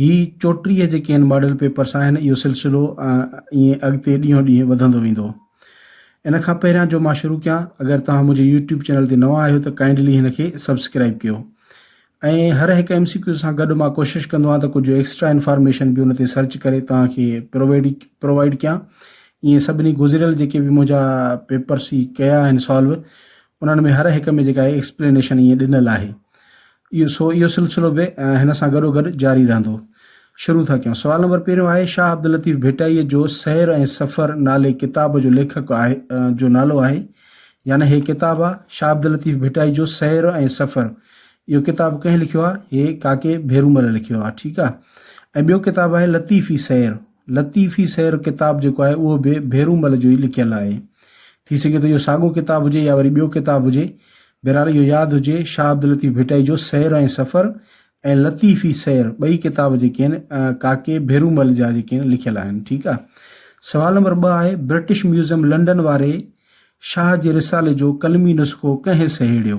هي چوٽيهه جيڪي ان ماڊل پيپرس آهن اهو سلسلو ائين اڳتي ڏينهون ڏينهن وڌندو ويندو. ان کان پهريان جو مان شروع ڪيان اگر توهان منهنجي يوٽيوب چينل تي نوان آهيو ته ڪائنڊلي هن کي سبسڪرائب ڪيو ۽ هر هڪ ايم سي ڪيو سان گڏ مان ڪوشش ڪندو آهيان ته ڪجهه ايڪسٽرا انفارميشن به ان تي سرچ ڪري توهان کي پرووائيڊ پرووائيڊ ڪيان ائين سڀني گذريل جيڪي به منهنجا پيپرس هي ڪيا آهن سالو انهن ۾ هر هڪ ۾ جيڪا ايڪسپلينيشن ائين ڏنل آهي اهو سو اهو سلسلو به هن سان گڏوگڏ جاري رهندو. شروع ٿا ڪيون. سوال نمبر پهريون آهي شاهه عبداللطيف ڀٽائيء جو سير ۽ سفر نالي ڪتاب جو ليکڪ آهي جو نالو آهي يعني هي ڪتاب آ شاهه عبداللطيف ڀٽائي جو سير ۽ سفر اهو ڪتاب ڪنهن لکيو آ هي ڪاڪي ڀيرومل لکيو آ ٺيڪ آ ۽ ٻيو ڪتاب آهي لطيفي سير لطيفي سير ڪتاب جيڪو آهي اهو به ڀيرومل جو ئي لکيل آهي. ٿي سگهي ٿو اهو ساڳو ڪتاب هجي يا وري ٻيو ڪتاب هجي. بهرحال اهو ياد هجي شاهه عبداللطيف ڀٽائي جو سير ۽ سفر ۽ لطيفي سير ٻئي ڪتاب جيڪي آهن ڪاڪي ڀيرومل جا جيڪي آهن لکيل آهن. ٺيڪ آهي. سوال نمبر ٻه آهي برٽش ميوزيم لنڊن واري شاهه جي رسالي جو قلمي نسخو ڪنهن سهيڙيو؟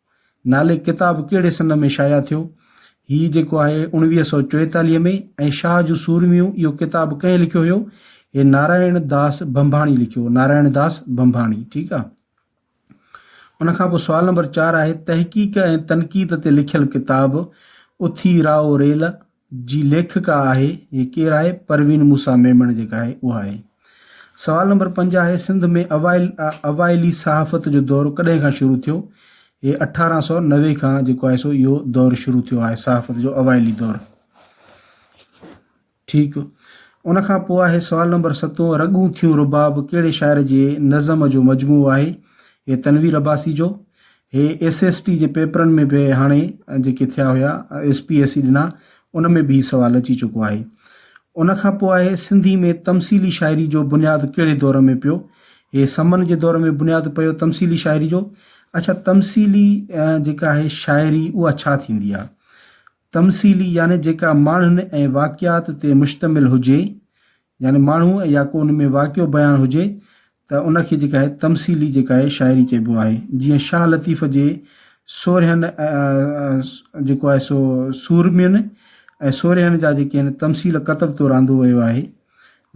نالي ڪتاب ڪهڙي سن ۾ شايع ٿيو؟ هي جيڪو آهي اوڻويهه سؤ چوئيتاليهه ۾ ۽ شاهه جون سورميون اهو ڪتاب ڪنهن لکيو هيو؟ هي نارائڻ داس ڀنڀاڻي لکيو هو، نارائڻ داس ڀنڀاڻي، ٺيڪ آ. ان کان پوء سوال نمبر چار آهي تحقيق ۽ تنقيد تي لکيل ڪتاب اٿي راء ريل جي ليکڪا آهي هي ڪير آهي پروين موسيٰ ميمڻ جيڪا آهي اها آهي سوال نمبر پنج آهي سنڌ ۾ اوائل اوائلي صحافت جو دور ڪڏهن کان شروع ٿيو هي اٺارهن سؤ نوي کان جيڪو آهي سو اهو دور شروع ٿيو آهي صحافت جو اوائلي دور ٺيڪ ان کان پوء آهي سوال نمبر ستون رڳون ٿيون رباب ڪهڙي شاعر جي نظم جو مجموعو آهي هي تنوير عباسي جو هي ايس ايس ٽي جي پيپرن ۾ به هاڻي جيڪي ٿيا هيا ايس پي ايس سي ڏنا ان ۾ به هي سوال اچي چڪو آهي ان کان پوء آهي سنڌي ۾ تمثيلي شاعري جو بنياد ڪهڙي دور ۾ پيو هي سمن جي دور ۾ بنياد پيو تمثيلي شاعري جو اڇا تمثيلي جيڪا آهي شاعري اها ڇا ٿيندي آهي تمثيلي يعني جيڪا ماڻهن ۽ واقعات تي مشتمل هجي يعني ماڻهو يا ڪو ان ۾ واقعو بيان هجي ته ان کي جيڪا آهي تمثيلي جيڪا آهي شاعري چئبو آهي جيئن شاهه لطيف جي سورهين جيڪو آهي سو سورمين ۽ سورهين جا جيڪي آهن تمثيل ڪتب طور آندو ويو آهي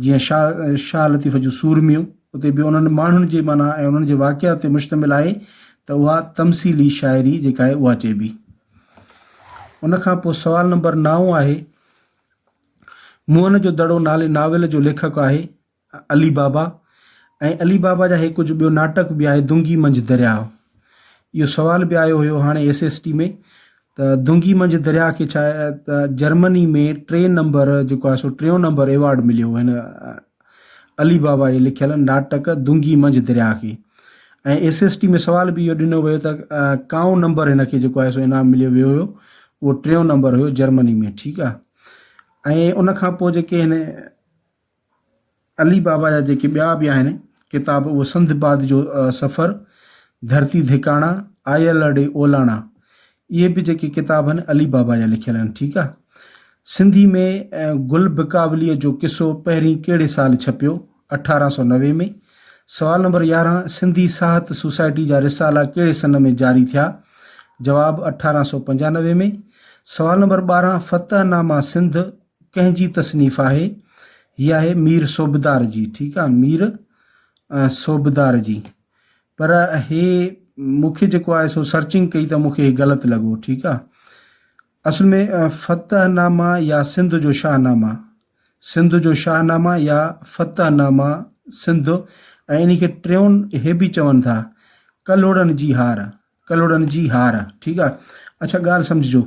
جيئن شاهه شاهه لطيف جون سورميون اتي به انهن ماڻهن جي معنيٰ ۽ انهن جي واقعات تي مشتمل آهي ته اها تمثيلي شاعري جيڪا آهي اها چئبي ان کان پوء سوال نمبر نو آهي موهن جو دڙو نالي ناول جو ليکڪ آهي علي بابا ۽ علي بابا جا هي ڪجهه ٻيو ناٽڪ به آهي دونگي منجهه درياء اهو سوال به آيو هيو هاڻي ايس ايس ٽي ۾ ته دونگي منجهه درياء کي ڇا جرمني ۾ ٽي نمبر جيڪو آهي سو ٽيون نمبر ايوارڊ مليو هن علي بابا جي لکيل ناٽڪ دونگي منجهه درياهه کي ۽ ايس ايس ٽي ۾ سوال به اهو ڏنو ويو ته ڪائون نمبر هن کي جيڪو آهي سو انعام مليو ويو هيو اهو ٽيون نمبر هيو جرمني ۾ ٺيڪ آهي ۽ ان کان پوء جيڪي هن علي بابا جا جيڪي ٻيا به آهن ڪتاب اهو سنڌ باد جو سفر ڌرتي ڌڪاڻا آيل ڏي اولاڻا اهي به جيڪي ڪتاب آهن علي بابا جا لکيل آهن ٺيڪ آ سنڌي ۾ گل بڪاولي جو قصو پهرين ڪهڙي سال ڇپيو اٺارهن سؤ نوي ۾ سوال نمبر يارهن سنڌي ساهت سوسائٽي جا رسالا ڪهڙي سن ۾ جاري ٿيا جواب اٺارهن سؤ پنجانوي ۾ سوال نمبر ٻارهن فتح ناما سنڌ ڪنهن جي تصنيف آهي هي آهي مير صوبدار جي ٺيڪ آ مير صوبدار جي پر هي مون کي جيڪو آهي سو سرچنگ ڪئي ته مون کي هي غلط لڳو ٺيڪ آهي اصل ۾ فتح نامه يا سنڌ جو شاهه نامه سنڌ جو شاهه نامه يا فتح نامه سنڌ ۽ ان کي ٽيون هي به چون ٿا ڪلهوڙن جي هار ڪلهوڙن جي هار ٺيڪ آهي اچھا ڳالهه سمجھجو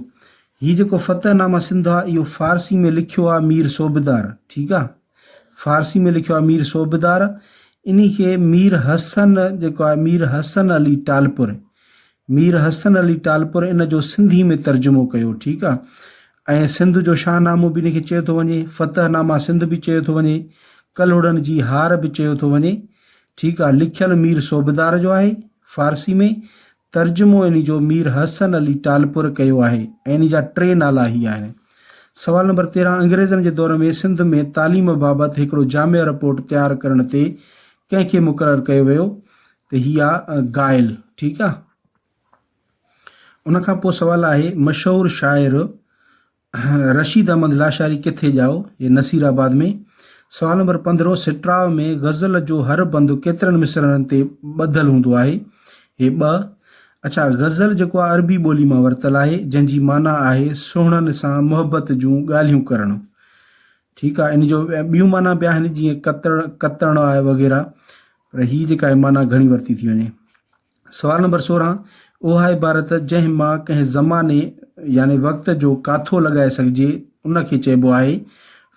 هي جيڪو فتح نامه سنڌ آهي اهو فارسي ۾ لکيو آهي مير صوبدار ٺيڪ آهي فارسي ۾ لکيو آهي مير صوبدار انهي کي مير حسن جيڪو آهي مير حسن علي ٽالپر مير حسن علي ٽالپر ان جو سنڌي ۾ ترجمو ڪيو ٺيڪ آهي ۽ سنڌ جو شاهنامو به ان کي چيو ٿو وڃي فتح نامه سنڌ به چيو ٿو وڃي ڪلهوڙن جي هار به چيو ٿو وڃي ٺيڪ آهي لکيل مير صوبدار جو آهي فارسي ۾ ترجمو انهي جو مير حسن علي ٽالپر ڪيو آهي ۽ انهي جا ٽي نالا هي آهن. سوال نمبر تيرهن انگريزن جي دور ۾ سنڌ ۾ تعليم بابت هڪڙو جامع رپورٽ تيار ڪرڻ تي ڪنهن کي مقرر ڪيو ويو ته هي آ گائل ٺيڪ آ. ان کان پوء سوال آهي مشهور شاعر رشيد احمد لاشاري ڪٿي ڄائو؟ هي نصير آباد ۾. سوال نمبر پندرهون سٽراء ۾ غزل جو هر بند ڪيترن مصرعن تي ٻڌل هوندو آهي؟ هي ٻه. اڇا غزل جيڪو آهي عربي ٻولي مان ورتل آهي جنهن جي معنيٰ آهي سهڻن سان محبت جون ڳالهيون ڪرڻ. ٺيڪ آهي ان جو ٻيون معنيٰ به آهن جيئن ڪتڻ ڪتڻ آهي وغيره پر هي جيڪا آهي معنيٰ گهڻي ورتي ٿي وڃي. سوال نمبر سورهن، اوهائي عبارت جنهن مان ڪنهن زماني يعني وقت جو ڪاٿو لڳائي سگهجي ان کي چئبو آهي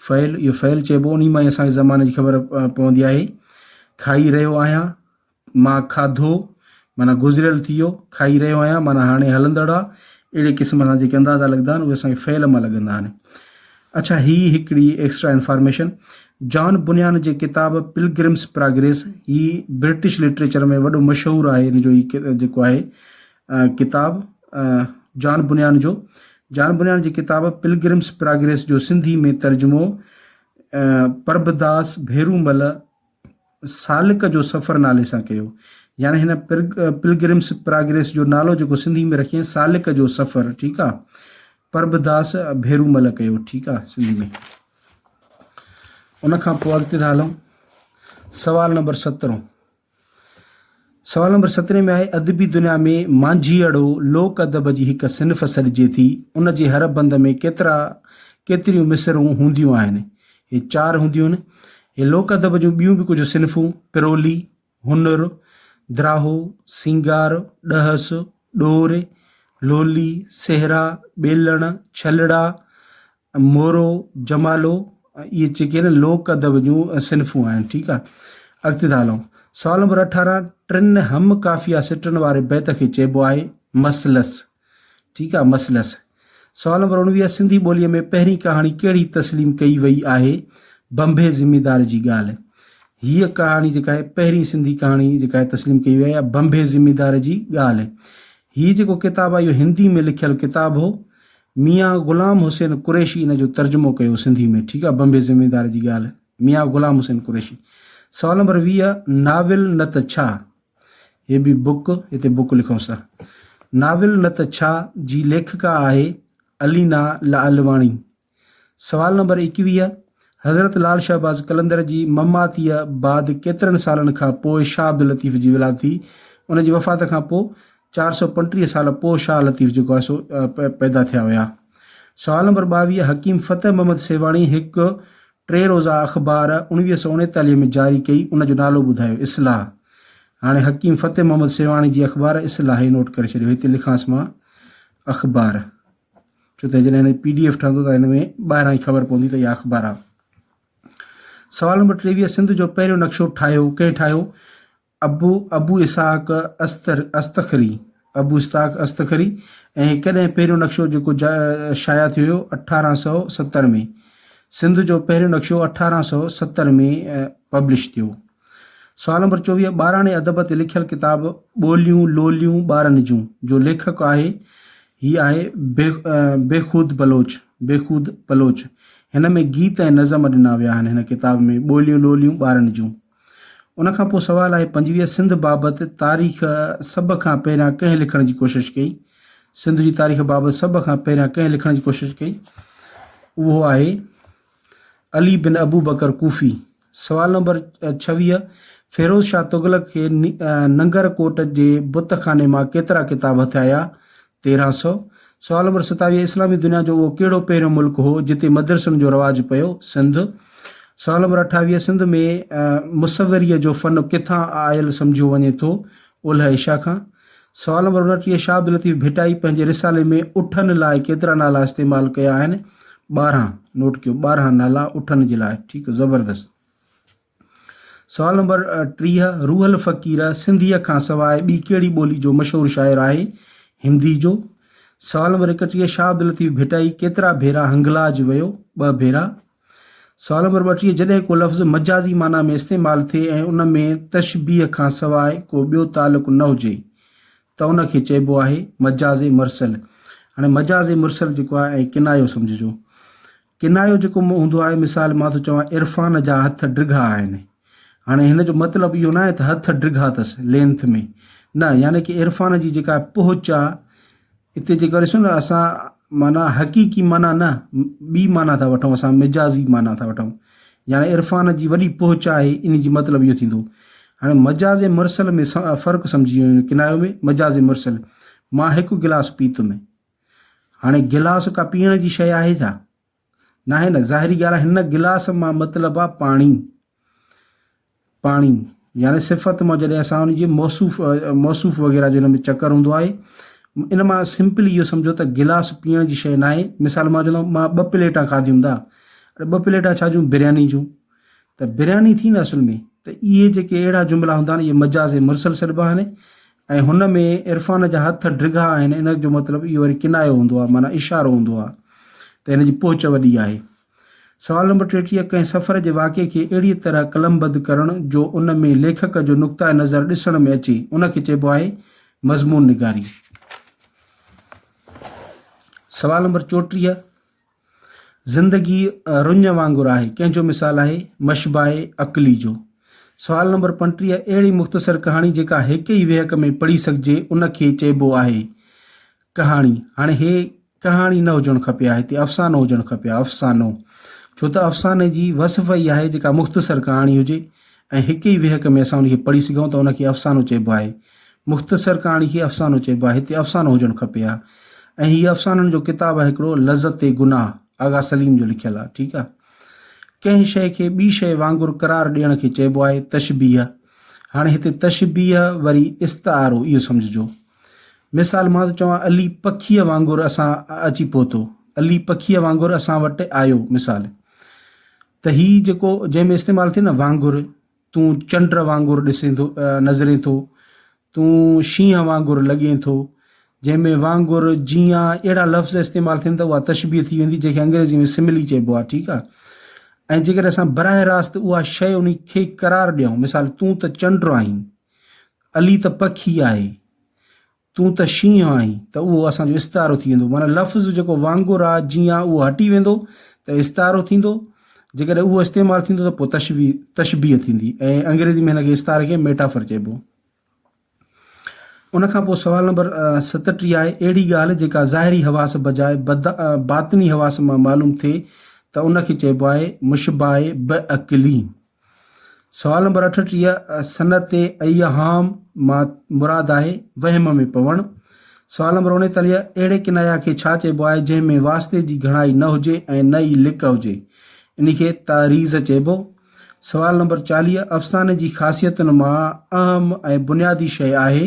فعل اهو فعل چئبو انهي مان ئي اسان کي زماني جي خبر پوندي آهي کائي رهيو آهيان مان کاڌو معنيٰ گذريل ٿي ويو کائي رهيو آهيان معنيٰ هاڻي هلندڙ آهي اهڙي قسم سان جيڪي اندازا لڳندا آهن اهي اسان کي فعل مان لڳندا آهن اڇا هي هڪڙي ايڪسٽرا انفارميشن جان بنيان جي ڪتاب پلگرمس پراگريس هي برٽش لٽريچر ۾ وڏو مشهور آهي ان جو هي جيڪو آهي ڪتاب جان بنيان جو جان بنيان جي ڪتاب پلگرمس پراگريس جو سنڌي ۾ ترجمو پرڀداس ڀيرومل سالڪ جو سفر نالي سان ڪيو يعني هن پلگرمس پراگريس جو نالو جيڪو سنڌي ۾ رکين سالڪ جو سفر ٺيڪ آ پربداس ڀيرومل ڪيو ٺيڪ آ سنڌي ۾ ان کان پوء اڳتي ٿا هلون سوال نمبر 17 سوال نمبر سترهين ۾ آهي، ادبي دنيا ۾ مانجهيئڙو لوڪ ادب جي هڪ صنف سڏجي ٿي، ان جي هر بند ۾ ڪيترا ڪيتريون مصرعون هونديون آهن؟ هي چار هونديون آهن. هي لوڪ ادب جون ٻيون به ڪجهه صنفون، پرولي، هنر، دراهو، سينگار، ڏهس، ڏور، لولي، سهرا، ٻيلڻ، ڇلڙا، مورو، جمالو اهي جيڪي آهن لوڪ ادب جون صنفون آهن ٺيڪ آهي اڳتي ٿا هلون سوال نمبر اٺارهن ٽن هم قافيا سٽن واري بيت کي چئبو آهي مثلث ٺيڪ آهي مثلث سوال نمبر اڻويهه سنڌي ٻوليء ۾ پهرين ڪهاڻي ڪهڙي تسليم ڪئي وئي آهي بنبي ذميدار جي ڳالهه هيء ڪهاڻي جيڪا آهي پهرين سنڌي ڪهاڻي جيڪا آهي تسليم ڪئي وئي آهي بنبي ذميدار جي ڳالهه هيء جيڪو ڪتاب آهي اهو هندي ۾ لکيل ڪتاب هو ميان غلام حسين قريشي ان جو ترجمو ڪيو سنڌي ۾ ٺيڪ آ بمبي زميندار جي ڳالھ ميان غلام حسين قريشي سوال نمبر ويهه ناول نه ته ڇا هي به بڪ هتي بڪ لکون سا ناول نه ته ڇا جي ليکڪا آهي علينا لعلواڻي سوال نمبر ايڪويهه حضرت لال شهباز قلندر جي مماتيء بعد ڪيترن سالن کان پوء شاهه عبداللطيف جي ولادت ٿي ان جي وفات کان پوء چار سؤ پنٽيهه سال پوء شاهه لطيف جيڪو آهي سو پيدا ٿيا هيا. سوال نمبر ٻاويهه حڪيم فتح محمد سيوهاڻي هڪ ٽي روزه اخبار اوڻويهه سؤ اڻيتاليهه ۾ جاري ڪئي ان جو نالو ٻڌايو اصلاح هاڻي حڪيم فتح محمد سيوهاڻي جي اخبار اصلاح هي نوٽ ڪري ڇڏيو هتي لکانس مان اخبار ڇو ته جڏهن هن پي ڊي ايف ٺهندو ته هن ۾ ٻاهران ئي خبر پوندي ته اها اخبار آهي سوال نمبر ٽيويهه سنڌ جو پهريون نقشو ٺاهيو ڪنهن ٺاهيو ابو ابو اسحاق استر استخري Abu Isthaq Astakhari ۽ هڪ ڏهن پهريون نقشو جيڪو جا شايع ٿيو هيو اٺارهن سؤ ستر ۾ سنڌ جو پهريون نقشو اٺارهن سؤ ستر ۾ پبلش ٿيو سوال نمبر چوويهه ٻاراڻي ادب تي لکيل ڪتاب ٻوليون لوليون ٻارن جون جو ليکڪ آهي هي آهي بي بيخود بلوچ بيخود بلوچ هن ۾ گيت ۽ نظم ڏنا ويا آهن هن ڪتاب ۾ ٻوليون لوليون ٻارن جون ان کان پوء سوال آهي پنجويهه سنڌ بابت تاريخ سڀ کان پهريان ڪنهن لکڻ جي ڪوشش ڪئي؟ سنڌ جي تاريخ بابت سڀ کان پهريان ڪنهن لکڻ جي ڪوشش ڪئي؟ اهو آهي علي بن ابو بڪر ڪوفي. سوال نمبر ڇويهه فيروز شاهه تغلق کي ننگر ڪوٽ جي بت خاني مان ڪيترا ڪتاب هٿيا آيا؟ تيرهن سؤ، سوال نمبر ستاويهه، اسلامي دنيا جو اهو ڪهڙو پهريون ملڪ هو، جتي مدرسن جو رواج پيو؟ سنڌ. سوال نمبر اٺاويهه، سنڌ ۾ مصوريء جو فن ڪٿان آيل سمجهيو وڃي ٿو؟ اولهه ايشيا کان. سوال نمبر انٽيهه، شاهه عبداللطيف ڀٽائي پنهنجي رسالي ۾ اٺن لاء ڪيترا نالا استعمال ڪيا آهن؟ ٻارهن. نوٽ ڪيو، ٻارهن نالا اٺن جي لاء. ٺيڪ، زبردست. سوال نمبر ٽيهه، روح الفقير سنڌيء کان سواء ٻي ڪهڙي ٻولي جو مشهور شاعر آهي؟ هندي جو. سوال نمبر ايڪٽيهه، شاهه عبداللطيف ڀٽائي ڪيترا ڀيرا هنگلاج ويو؟ ٻه ڀيرا. سوال نمبر ٻٽيهه، جڏهن ڪو لفظ مجازي معنيٰ ۾ استعمال ٿئي ۽ ان ۾ تشبيهه کان سواء ڪو ٻيو تعلق نه هجي ته ان کي چئبو آهي مجاز مرسل. هاڻي مجاز مرسل جيڪو آهي ۽ ڪنايو سمجهجو. ڪنايو جيڪو مون هوندو آهي مثال مان ٿو چوان عرفان جا هٿ ڊگها آهن هاڻي هن جو مطلب اهو ناهي ته هٿ ڊگها تس لينٿ ۾ نه يعني ڪي عرفان جي جيڪا پهچ آ اتي جي ڪري سن اسان معنی حقيقي معنی نه ٻي معنی ٿا وٺون اسان مجازي معنی ٿا وٺون يعني عرفان جي وڏي پهچ آهي ان جي مطلب اهو ٿيندو هاڻي مجاز مرسل ۾ فرق سمجهي ويو ڪنايو ۾ مجاز مرسل مان هڪ گلاس پيتم هاڻي گلاس ڪا پيئڻ جي شيء آهي ڇا؟ ناهي نه، ظاهري ڳالهه آهي هن گلاس مان مطلب آهي پاڻي. پاڻي يعني صفت مان جڏهن اسان ان جي موصوف موصوف وغيره جو ان ۾ چڪر هوندو آهي ان مان سمپلي اهو سمجهو ته گلاس پيئڻ جي شيء ناهي مثال مان چوندو مان ٻه پليٽا کاڌيون دا اڙي ٻه پليٽا ڇا جون برياني جون ته برياني ٿي نه اصل ۾ ته اهي جيڪي اهڙا جملا هوندا آهن اهي مجاز مرسل سڏبا آهن ۽ هن ۾ عرفان جا هٿ ڊگها آهن ان جو مطلب اهو وري ڪنايو هوندو آهي معنيٰ اشارو هوندو آهي ته هن جي پهچ وڏي آهي سوال نمبر ٽيٽيهه ڪنهن سفر جي واقعي کي اهڙيء طرح قلمبد ڪرڻ جو ان ۾ ليکڪ جو نقطه نظر ڏسڻ ۾ اچي ان کي چئبو آهي مضمون نگاري سوال نمبر چوٽيهه زندگي رڃ وانگر آهي، ڪنهن جو مثال آهي مشباهه عقلي جو. سوال نمبر پنٽيهه اهڙي مختصر ڪهاڻي جيڪا هيڪ ئي ويهڪ ۾ پڙهي سگهجي ان کي چئبو آهي ڪهاڻي. هاڻي هي ڪهاڻي نه هجڻ کپي ها هتي افسانو هجڻ کپي ها افسانو. ڇو ته افساني جي وصف ئي آهي جيڪا مختصر ڪهاڻي هجي ۽ هڪ ئي ويهڪ ۾ اسان ان کي پڙهي سگهون ٿا ان کي افسانو چئبو آهي. مختصر ڪهاڻي کي افسانو چئبو آهي هتي افسانو هجڻ کپي ها ۽ هي افسانن جو ڪتاب آهي هڪڙو لذت گناهه آغا سليم جو لکيل آهي ٺيڪ آهي ڪنهن شيء کي ٻي شيء وانگر قرار ڏيڻ کي چئبو آهي تشبيه هاڻي هتي تشبيه وري استعارو اهو سمجهجو مثال مان ٿو چوان علي پکيء وانگر اسان اچي پهتو علي پکيء وانگر اسان وٽ آيو مثال ته هي جيڪو جنهن ۾ استعمال ٿئي نه وانگر تون چنڊ وانگر ڏسين ٿو نظرين ٿو تون شينهن وانگر لڳين ٿو جنهن ۾ وانگر جيان اهڙا لفظ استعمال ٿين ته اها تشبيهه ٿي ويندي جنهن کي انگريزي ۾ سملي چئبو آهي ٺيڪ آهي ۽ جيڪڏهن اسان براه راست اها شيء ان کي قرار ڏيون مثال تون ته چنڊ آهين علي ته پکي آهي تون ته شينهن آهين ته اهو اسان جو استعارو ٿي ويندو معنيٰ لفظ جيڪو وانگر آ، جيئن آ اهو هٽي ويندو ته استعارو ٿيندو، جيڪڏهن اهو استعمال ٿيندو ته پوء تشبيه، تشبيه، ٿيندي ۽ انگريزي ۾ هن کي استعاري کي Metaphor چئبو. ان کان پوء سوال نمبر ستٽيهه آهي، اهڙي ڳالهه جيڪا ظاهري حواس بجاء باطني حواس مان معلوم ٿئي ته ان کي چئبو آهي مشبهه ب عقلي. سوال نمبر اٺٽيهه صنعت ايهام مان مراد آهي وهم ۾ پوڻ. سوال نمبر اڻيتاليهه اهڙي ڪنايا کي ڇا چئبو آهي جنهن ۾ واسطي جي گهڻائي نه هجي ۽ نه ئي لڪ هجي ان کي تعريض چئبو. سوال نمبر چاليهه افساني جي خاصيتن مان اهم ۽ بنيادي شيء آهي.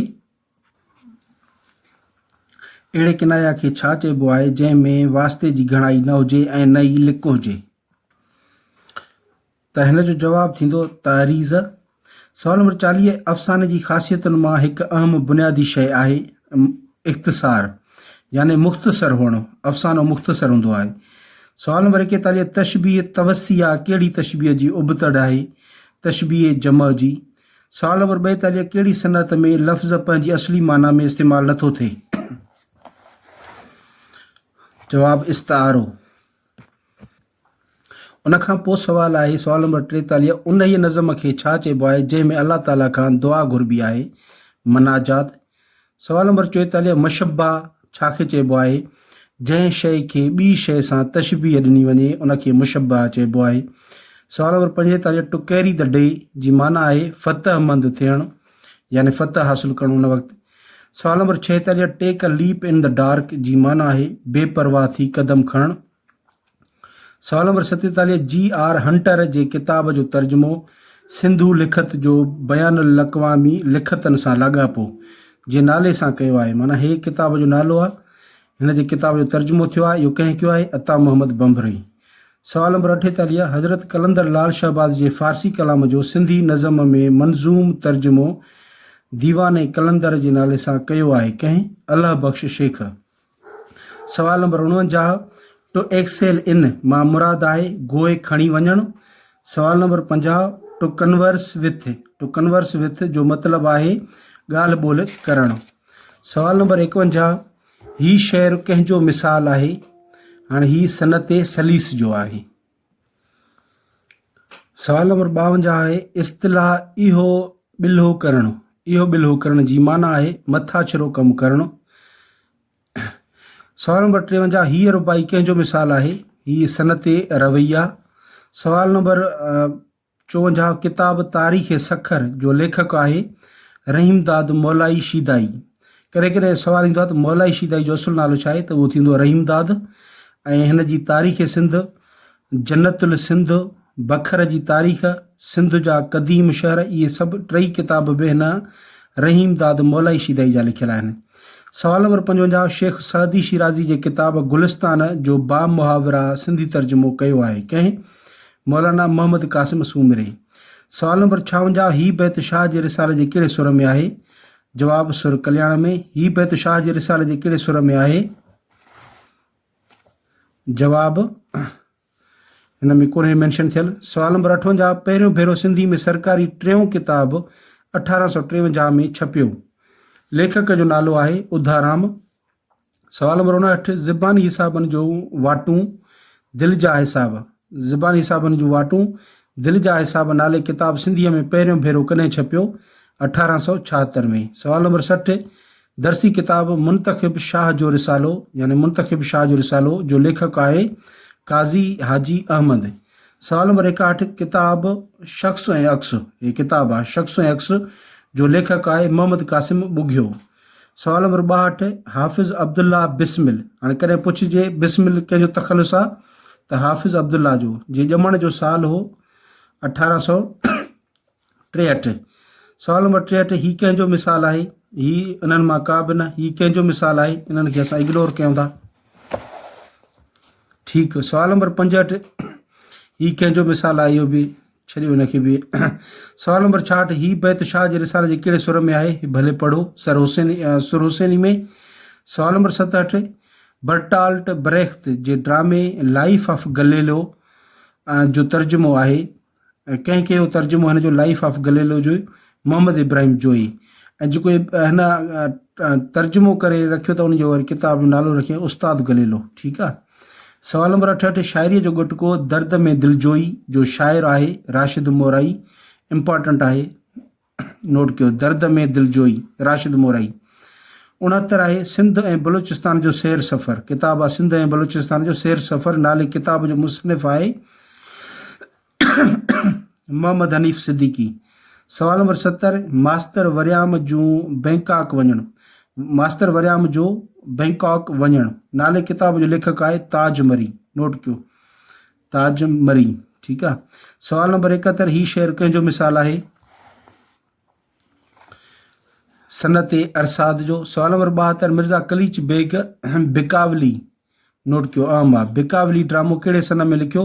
اهڙي ڪنايا کي ڇا چئبو آهي جنهن ۾ واسطي جي گهڻائي نه هجي ۽ نه ئي لڪ هجي؟ ته هن جو جواب ٿيندو تعريض. سوال نمبر چاليهه افساني جي خاصيتن مان هڪ اهم بنيادي شيء آهي اختصار يعني مختصر هئڻ افسانو مختصر هوندو آهي. سوال نمبر ايڪيتاليهه تشبيهه توسيع ڪهڙي تشبيهه جي ابتڙ آهي؟ تشبيهه جمع جي. سال نمبر ٻائيتاليهه ڪهڙي صنعت ۾ لفظ پنهنجي اصلي معنيٰ ۾ استعمال نه ٿو ٿئي؟ جواب، استعارو. ان کان پوء سوال آهي، سوال نمبر ٽيتاليهه انهيء نظم کي ڇا چئبو آهي، جنهن ۾ الله تعاليٰ کان دعا گهربي آهي، مناجات، سوال نمبر چوئيتاليهه مشبه ڇا کي چئبو آهي؟ جنهن شيء کي ٻي شيء سان تشبيه ڏني وڃي ان کي مشبه چئبو آهي. سوال نمبر پنجيتاليهه To carry the day جي معنيٰ آهي فتح مند ٿيڻ يعني فتح حاصل ڪرڻ ان وقت. سوال نمبر ڇهيتاليهه Take a leap in the dark جي معنيٰ آهي بي پرواهه ٿي قدم کڻڻ سوال نمبر ستيتاليهه جي آر هنٽر جي ڪتاب جو ترجمو سنڌو لکت جو بين الاقوامي لکتن سان لاڳاپو جي نالي سان ڪيو آهي معنيٰ هي ڪتاب جو نالو آهي هن جي ڪتاب جو ترجمو ٿيو آهي اهو ڪنهن ڪيو آهي عطا محمد بمبرئي سوال نمبر اٺيتاليهه حضرت قلندر لال شهباز جي فارسي ڪلام جو سنڌي نظم ۾ منظوم ترجمو ديوان قلندر جي نالي سان ڪيو آهي ڪنهن الهه بخش شيخ سوال نمبر اڻونجاهه ٽو ايڪسيل ان مان مراد آهي گوئي کڻي وڃڻ سوال نمبر پنجاهه ٽو ڪنورس وٿ ٽو ڪنورس وٿ جو مطلب آهي ڳالهه ٻولهه ڪرڻ سوال نمبر ايڪونجاهه هي شعر ڪنهن جو مثال آهي هاڻي هي صنعت سليس جو آهي سوال نمبر ٻاونجاهه آهي اصطلاح اهو ٻلهو ڪرڻ اهو ٻلهو ڪرڻ جي معنيٰ آهي مٿا ڇرو ڪم ڪرڻ سوال نمبر ٽيونجاهه هيء رباعي ڪنهن جو مثال آهي هيء صنعتي رويا سوال نمبر چونجھا ڪتاب تاريخ سکر جو ليکڪ آهي رحيمداد مولائي شيدائي. ڪڏهن ڪڏهن سوال ايندو آهي ته مولائي شيدائي جو اصل نالو ڇا آهي ته اهو ٿيندو رحيمداد ۽ هن جي تاريخ سنڌ، جنت السنڌ، بکر جي تاريخ، سنڌ جا قديم شهر اهي سڀ ٽئي ڪتاب به هن رحيمداد مولائي شيدائي جا لکيل آهن. سوال نمبر پنجونجاهه شيخ سعدي شيرازي جي ڪتاب گلستان جو بامحاوره سنڌي ترجمو ڪيو آهي ڪنهن؟ مولانا محمد قاسم سومري. سوال نمبر ڇاونجاهه هي بيت شاهه جي رسالي جي ڪهڙي سر ۾ آهي؟ جواب، سر ڪلياڻ ۾. هي بيت شاهه جي رسالي جي ڪهڙي سر ۾ آهي؟ جواب، هن ۾ ڪونهي مينشن ٿيل. سوال نمبر اٺونجاهه پهريون ڀيرو سنڌي ۾ سرڪاري ٽيون ڪتاب اٺارهن سؤ ٽيونجاهه ۾ ڇپيو. ليکڪ جو نالو آهي اڌارام. سوال نمبر اڻاهٺ، زباني حسابن جون واٽون دل جا حساب، زباني حسابن جون واٽون دل جا حساب نالي ڪتاب سنڌيء ۾ پهريون ڀيرو ڪڏهن ڇپيو؟ اٺارهن سؤ ڇاهتر ۾ سوال نمبر سٺ، درسي ڪتاب منتخب شاهه جو رسالو يعني منتخب شاهه جو رسالو جو ليکڪ آهي قاضي حاجي احمد سوال نمبر ايڪاهٺ، ڪتاب شخص ۽ عڪس، هي ڪتاب آهي شخص ۽ عڪس جو ليکڪ آهي محمد قاسم ٻگهيو سوال نمبر ٻاهٺ، حافظ عبدالله بسمل، هاڻي ڪڏهن پڇجي بسمل ڪنهن جو تخلص آ ته حافظ عبدالله جو، جي ڄمڻ جو سال هو اٺارهن سؤ ٽيهٺ. سوال نمبر ٽيهٺ، هي ڪنهن جو مثال آهي؟ هي انهن مان ڪا به نه، هي ڪنهن جو مثال آهي؟ انهن کي اسان اگنور ڪيون ٿا. ٺيڪ. سوال نمبر پنجهٺ، هي ڪنهن جو مثال آهي؟ اهو به. ڇڏيو هن کي به. سوال نمبر ڇاهٺ، هي بيت شاهه جي رسالي جي ڪهڙي سر ۾ آهي؟ ڀلي پڙهو، سر حسيني، سر حسيني ۾. سوال نمبر ستهٺ، برٽالٽ بريخت جي ڊرامي لائيف آف گليلو جو ترجمو آهي، ڪنهن ڪيو ترجمو هن جو لائيف آف گليلو جو؟ محمد ابراهيم جويي ۽ جيڪو هن ترجمو ڪري رکيو ته ان جو وري ڪتاب جو نالو رکيائين استاد گليلو ٺيڪ آ سوال نمبر اٺ اٺ شاعري جو ڳٽڪو درد ۾ دلجوئي جو شاعر آهي راشد مورائي امپارٽنٽ آهي نوٽ ڪيو درد ۾ دلجوئي راشد مورائي اڻهتر آهي سنڌ ۽ بلوچستان جو سير سفر ڪتاب آ سنڌ ۽ بلوچستان جو سير سفر نالي ڪتاب جو مصنف آهي محمد حنيف صديقي سوال نمبر ستر ماستر وريام جون بئنڪاڪ وڃڻ ماستر وريام جو بئنڪاڪ وڃڻ نالي ڪتاب جو ليکڪ آهي تاج مري نوٽ ڪيو تاج مري ٺيڪ آ سوال نمبر اڪهتر هي شعر ڪنهن جو مثال آهي صنعت ارساد جو سوال نمبر ٻاهتر مرزا قليچ بيگ بڪاولي نوٽ ڪيو اهم آ بقاولي ڊرامو ڪهڙي سنه ۾ لکيو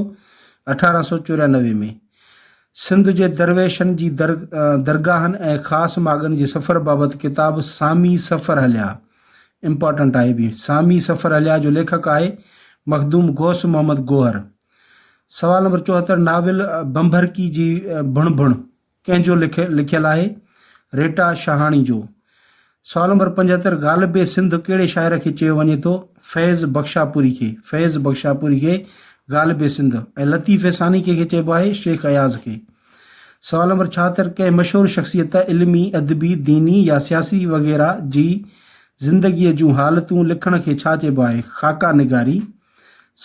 اٺارهن سؤ چوريانوي ۾ سنڌ جي درويشن جي در درگاهن ۽ خاص ماڳن جي سفر بابت ڪتاب سامي سفر هليا امپارٽنٽ آهي به سامي سفر هليا جو ليکڪ آهي مخدوم غوث محمد گوهر سوال نمبر چوهتر ناول بنڀرڪي جي ڀڻ ڀڻ ڪنهن جو لکيل آهي؟ ريٽا شاهاڻي جو. سوال نمبر پنجهتر، غالب سنڌ ڪهڙي شاعر کي چيو وڃي ٿو؟ فيض بخشاپوري کي. فيض بخشاپوري کي غالب سنڌ ۽ لطيف ثاني ڪنهن کي چئبو آهي؟ شيخ اياز کي. سوال نمبر ڇاهتر، ڪنهن مشهور شخصيت علمي، ادبي، ديني يا سياسي وغيره جي زندگيء جون حالتون لکڻ کي ڇا چئبو آهي؟ خاڪا نگاري.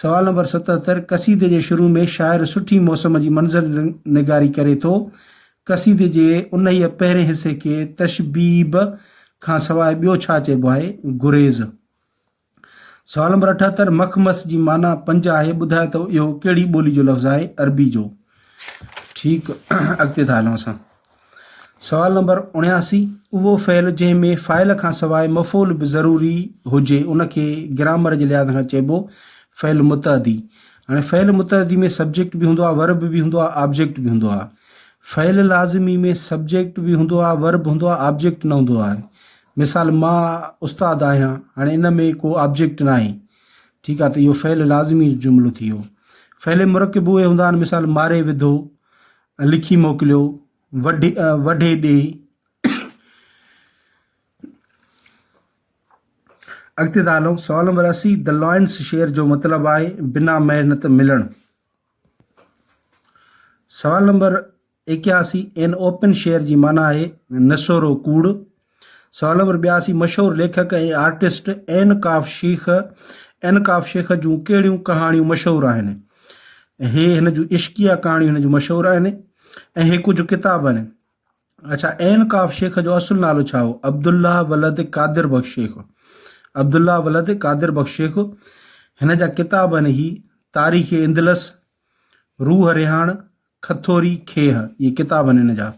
سوال نمبر ستهتر قصيدي جي شروع ۾ شاعر سٺي موسم جي منظر نگاري ڪري ٿو. قصيدي جي انهيء پهرين حصي کي تشبيب کان سواء ٻيو ڇا چئبو آهي؟ گريز. سوال نمبر اٺهتر مخمس جي معنيٰ پنج آهي، ٻڌاء ته اهو ڪهڙي ٻولي جو لفظ آهي؟ عربي جو. ٺيڪ، اڳتي ٿا هلون اسان. سوال نمبر اڻياسي، اهو فعل جنهن ۾ فاعل کان سواء مفعول به ضروري هجي ان کي گرامر جي لحاظ کان چئبو فعل متعدي. هاڻي فعل متعدي ۾ سبجيڪٽ به هوندو آهي ورب به هوندو آهي آبجيڪٽ به هوندو آهي. فعل لازمي ۾ سبجيڪٽ به هوندو آهي ورب هوندو آهي آبجيڪٽ نه هوندو آهي. مثال، مان استاد آهيان هاڻي ان ۾ ڪو آبجيڪٽ ناهي ٺيڪ آهي ته اهو فعل لازمي جملو ٿي ويو. فعل مرڪب اهي هوندا آهن مثال ماري وڌو لکي موڪليو وڍي وڍي ڏي. اڳتي ٿا هلون سوال نمبر اسي د لائنس شيئر جو مطلب آهي بنا محنت ملڻ سوال نمبر اڪياسي ان اوپن شيئر جي معنيٰ آهي نسورو ڪوڙ سالور ٻياسي مشهور ليکڪ ۽ آرٽسٽ اين ڪاف شيخ اين ڪاف شيخ جون ڪهڙيون ڪهاڻيون مشهور آهن؟ هي هن جون عشقيه ڪهاڻيون هن جون مشهور آهن ۽ هي ڪجهه ڪتاب آهن. اڇا اين ڪاف شيخ جو اصل نالو ڇا هو؟ عبدالله ولد قادر بخش شيخ عبدالله ولد قادر بخش شيخ هن جا ڪتاب آهن هي تاريخ اندلس روح رهاڻ کٿوري کيهه، اهي ڪتاب آهن هن جا.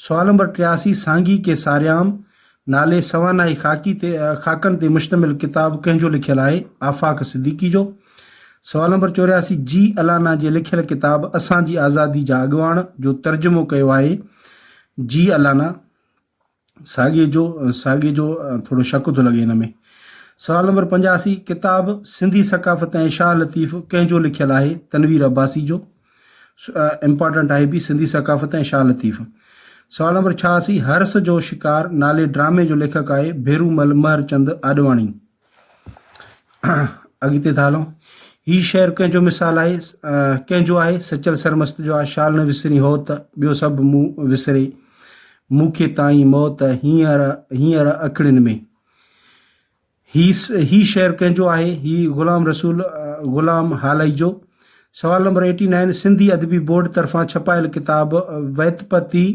سوال نمبر ٽياسي، سانگي ڪي ساريام نالي سوانحي خاڪي تي خاڪن تي مشتمل ڪتاب ڪنهن جو لکيل آهي؟ آفاق صديقي جو. سوال نمبر چورياسي، جي الانا جي لکيل ڪتاب اسان جي آزادي جا اڳواڻ جو ترجمو ڪيو آهي؟ جي الانا. ساڳي جو ساڳي جو ٿورو شڪ ٿو لڳي هن ۾ سوال نمبر پنجاسي ڪتاب سنڌي ثقافت ۽ شاهه لطيف ڪنهن جو لکيل آهي تنوير عباسي جو امپارٽنٽ آهي بي سنڌي ثقافت ۽ شاهه لطيف سوال نمبر ڇهاسي هرس جو شڪار نالي ڊرامي جو ليکڪ آهي ڀيرو مل مهر چند آڏواڻي اڳتي ٿا هلون هي شعر ڪنهن جو مثال آهي ڪنهن جو آهي سچل سرمست جو آهي شال نه وسري هو ته ٻيو سڀ مون وسري مون کي تائين موت هينئر هينئر اکڙين ۾ هي هي شعر ڪنهن جو آهي هي غلام رسول غلام هالائي جو سوال نمبر ايٽي نائن سنڌي ادبي بورڊ طرفان ڇپايل ڪتاب ويتپتي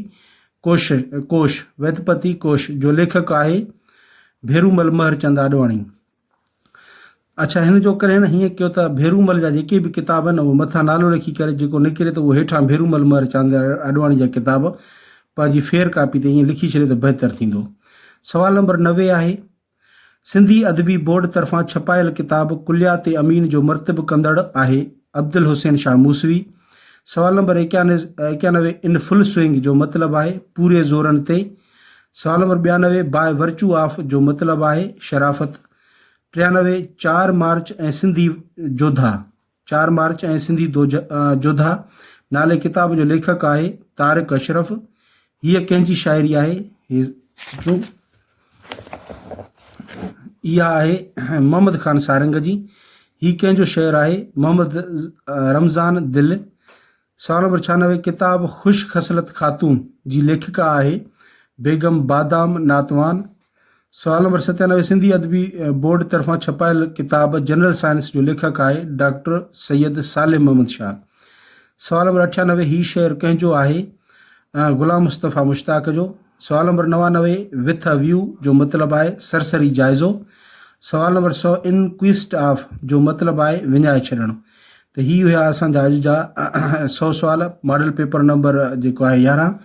ڪوش، Kosh، ويدپتي ڪوش جو ليکڪ آهي ڀيرومل مهر چند آڏواڻي. اڇا هن جو ڪرڻ هيئن ڪيو ته ڀيرومل جا جيڪي به ڪتاب آهن اهي مٿان نالو لکي ڪري جيڪو نڪري ته اهو هيٺان ڀيرومل مهر چند آڏواڻي جا ڪتاب پنهنجي ڦير ڪاپي تي ائين لکي ڇڏي ته بهتر ٿيندو. سوال نمبر نوي آهي. سنڌي ادبي بورڊ طرفان ڇپايل ڪتاب ڪليات امين جو مرتب ڪندڙ آهي عبدالحسين شاهه موسوي. سوال نمبر ايڪيانوي ان فل سوئنگ جو مطلب آهي پوري زورن تي. سوال نمبر ٻيانوي باء ورچو آف جو مطلب آهي شرافت. ٽيانوي چار مارچ ۽ سنڌي جوڌا. چار مارچ ۽ سنڌي جوڌا نالي ڪتاب جو ليکڪ آهي طارق اشرف هيء ڪنهن جي شاعري آهي اها آهي محمد خان سارنگ جي هي ڪنهن جو شعر آهي محمد رمضان دل سال نمبر ڇهانوي ڪتاب خوش خصلت خاتون جي ليکڪا آهي بيگم بادام ناتوان. سوال نمبر ستيانوي سنڌي ادبي بورڊ طرفان ڇپايل ڪتاب جنرل سائنس جو ليکڪ آهي ڊاڪٽر سيد صالح محمد شاهه. سوال نمبر اٺيانوي هي شعر ڪنهن جو آهي؟ غلام مصطفيٰ مشتاق جو. سوال نمبر نوانوي وٿ اي ويو جو مطلب آهي سرسري جائزو. سوال نمبر سؤ ان ڪويسٽ آف جو مطلب آهي وڃائي ڇڏڻ. ته هي هيا اسان جا اڄ جا سؤ سوال ماڊل پيپر نمبر جيڪو آهي يارهن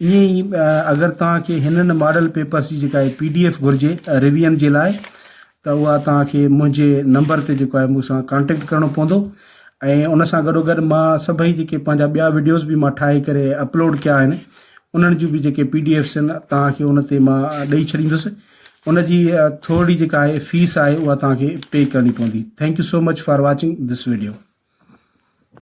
ائين ئي اگر توهان کي هنن ماڊل پيپرس جي جيڪا پي ڊي ايف گهرجي ريويئن جي لاء ته اها توهان کي منهنجي نمبر تي جيڪو آهي مون سان ڪانٽيڪٽ ڪرڻو پوندو ۽ ان سان گڏو گڏ مان سڀئي جيڪي پنهنجا ٻيا ويڊيوز به مان ٺاهي ڪري اپلوڊ ڪيا آهن انهن جون به جيڪي پي ڊي ايفس آهن توهان کي ان تي مان ڏئي ڇڏيندس ان جي ٿورڙي جيڪا آهي فيس آهي اها توهان کي پي ڪرڻي پوندي thank you so much for watching this video.